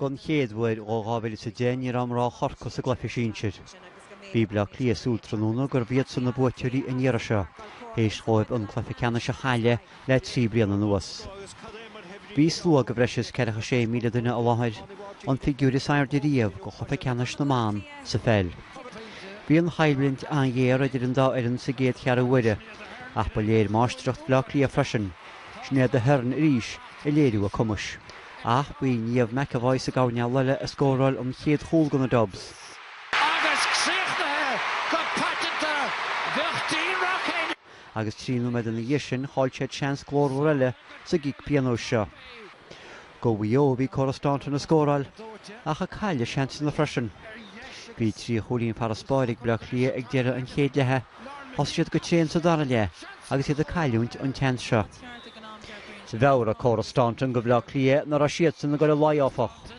Don chéad uair ó 2010 ní raibh mná Chorcaí sa gcluiche sinsir. Bhí Bleá Cliath ag súil tráthnóna gurbh iadsan na buaiteoirí an iarraidh seo, théis dhóibh an cluiche ceannais a chailleadh le trí bliana anuas. Bhí slua de bhreis is ceathracha sé míle duine i láthair, an figiúir is airde riamh go chluiche ceannais na mban sa pheil. Bhí an choimhlint an-ghéar idir an dá fhoireann sa gcéad cheathrú uaire, ach ba léir máistreacht Bhleá Cliath freisin, Sinéad Aherne arís ag léiriú a cumais. Ach b'í Niamh McEvoy sa gcoirnéal eile a scóráil an chéad chúl do na Dubs. Agus críochnaithe go paiteanta, bheadh Dean Rock in. Agus trí nóiméad ina dhiaidh sin, chaill siad seans glórmhar eile sa gcic pionóis seo. Go Mhaigh Eo bhí Cora Staunton ag scóráil, ach ag cailleadh seansanna freisin. Bhí trí chúilín farasbairr ag Bleá Cliath ag deireadh an chéad leatha, Thosaigh siad go tréan sa dara leath agus iad ag cailliúint an tseans seo. Mheabhraigh Cora Staunton go Bhleá Cliath nach raibh siadsan ag dul i laghad áfach.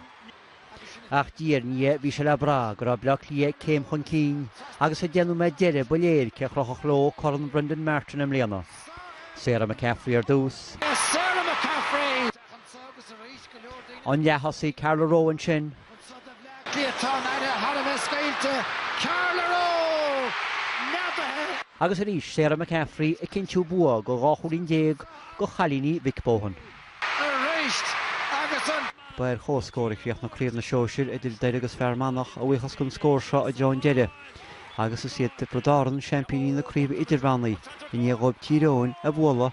Ach diaidh ar ndiaidh bhí sé le brath go raibh Bleá Cliath céim chun cinn agus sa deich nóiméad deiridh ba léir cé a chrochfadh leo Corn Brendan Martin i mbliana. Sarah McCaffrey ar dtús. Anseo agus arís, go leor daoine anseo. An leath-thosaí, Carla Rowe, ansin. Anseo do Bhleá Cliath tá an fhaire thar a bheith scaoilte, Carla Rowe! Neadaithe. Agus arís, Sarah McCaffrey ag cinntiú bua go dhá chúilín déag go chailíní Mick Bohan. Arís agus an. Ba ar chomhscór a chríochnaigh Craobh na Sóisear idir Doire agus Fear Manach a bhuíochas den scór seo i dtreo an deiridh agus is iad Tiobraid Árann seaimpíní na Craoibhe Idirmheánaí i ndiaidh dhóibh Tír Eoghain a bhualadh